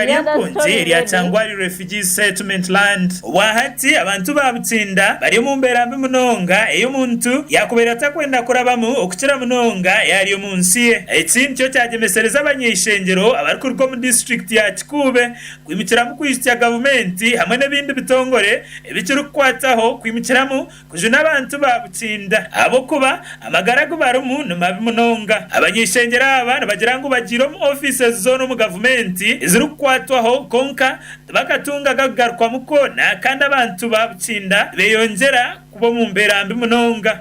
ry'empunzi erya Kyangwari Refugees Settlement Land. Obwahati abantu ba Bukinda bari omu mbeera mbi munonga ei omuntu yaakubaire atakwenda kurabamu okukira munonga yaari omu nsi ye. Eki nikyo kyagyemesereza abanyaishengyero abarikuruga omu disiturikiti ya Kikuube kwimukiramu kwijukya gavumenti hamwe n'ebindi bitongore ebikirikukwataho kwimukiramu Kujuna abantu ba Bukinda ahabw'okuba amagara agu barimu ni mabi munonga. Abany'eishengyero aba nibagira ngu bagiire omu ofiisi zoona omu gavumenti ezirikukwatwaho kwonka tibakatunga gakugarukwamu koona kandi abantu ba Bukinda nibeyongyera kuba omu mbeera mbi munonga.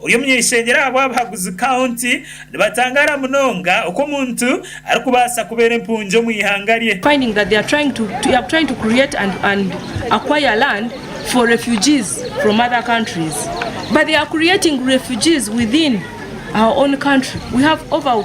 Ori omunyaishengyero ahabw abahaguzi County nibatangaara munonga oku omuntu arikubaasa kubeera empungi omu ihanga rye. finding that they are trying to they are trying to create and and acquire land for refugees from other countries but they are creating refugees within our own country we have over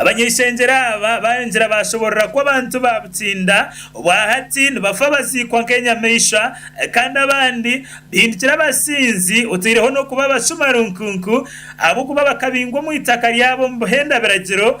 Abanyaishengyero aba baayongyera baashoboorora ku abantu ba Butsinda obwa hati nibafa baziikwa nk'enyamaishwa kandi abandi bahindukira abasinzi otaireho n'okuba abashuma runkunku ahabw'okuba bakabingwa omu itaka ryabo omu buhenda biragiro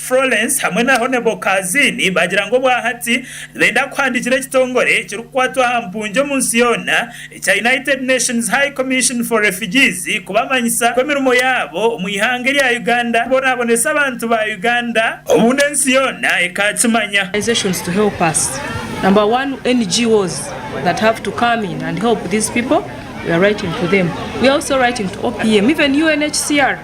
Florence hamwe na Honebel Kazini baagira ngu obwahati nibenda kuhandiikira ekitongore ekirikukwatwa aha mpungi omu nsi yoona ekya United Nations High Commission for Refugees kubamanyisa ku emirimo yaabo omu ihanga erya Uganda kubonaabonesa abantu ba Uganda obundi ensi yoona ekaakimanya. organisations to help us number one NGOs that have to come in and help these people we are writing to them we are also writing to OPM even UNHCR.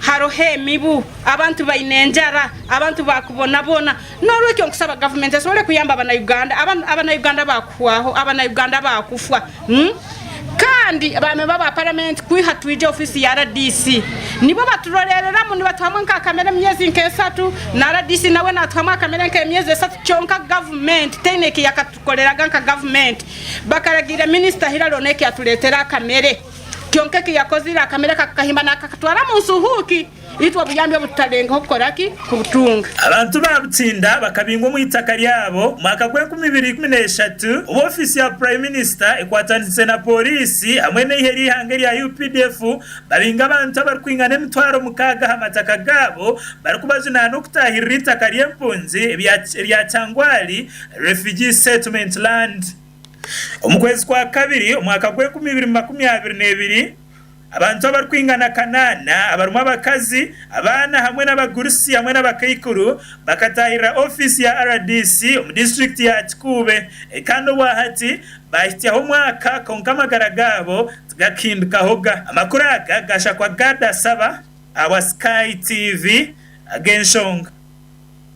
haroho emibu, abantu baine enjara, abantu bakubonaboona. N'orwekyo nkusaba gavumenti esobole kuyamba abana Uganda, abana Uganda bakuhwaho, abana Uganda bakufwa. Hmm? Kandi baamemba aba paramenti kwiha twija ofiisi ya RDC nibo baturorereramu nibatuhamu nkakamere emyezi nk'esatu na RDC nawe natuhamu akamere nk'emyezi esatu kyonka gavumenti teine ekiyakatukoreraga nka gavumenti bakaragiire minisita hirari onu ekiyatureetera akamere. Kyonka eki yakozire, akamere aka akakahimba naakakatwara omu nsi huuki itwe obuyambi obu tutalengeho kukora ki? Kubutunga. Abantu ba Butinda bakabingwa omu itaka ryabo omu mwaka gw'enkumi ibiri ikumi n'eshatu obu ofiisi ya Prime Minister ekwataniise na pooriisi hamwe n'eihe ry'eihanga erya updf babinga abantu abarikwingana emitwaro mukaaga aha mataka gaabo barikubajunaana okutaahirira eitaka ry'empunzi erya Kyangwali Refugee Settlement Land. Omu kwezi kwa kabiri omwaka gw'enkumi ibiri makumi abiri n'ebiri, abantu abarikwingana kanaana, abarimu abakazi, abaana hamwe n'abagurusi hamwe n'abakaikuru, bakataahirira ofiisi ya rdc omu disiturikiti ya Kikuube kandi obwahati baahitsyaho omwaka kwonka amagara gaabo tigakahindukahoga. Amakuru aga gashakwa Gad Asaba awa Sky TV ag'enshonga.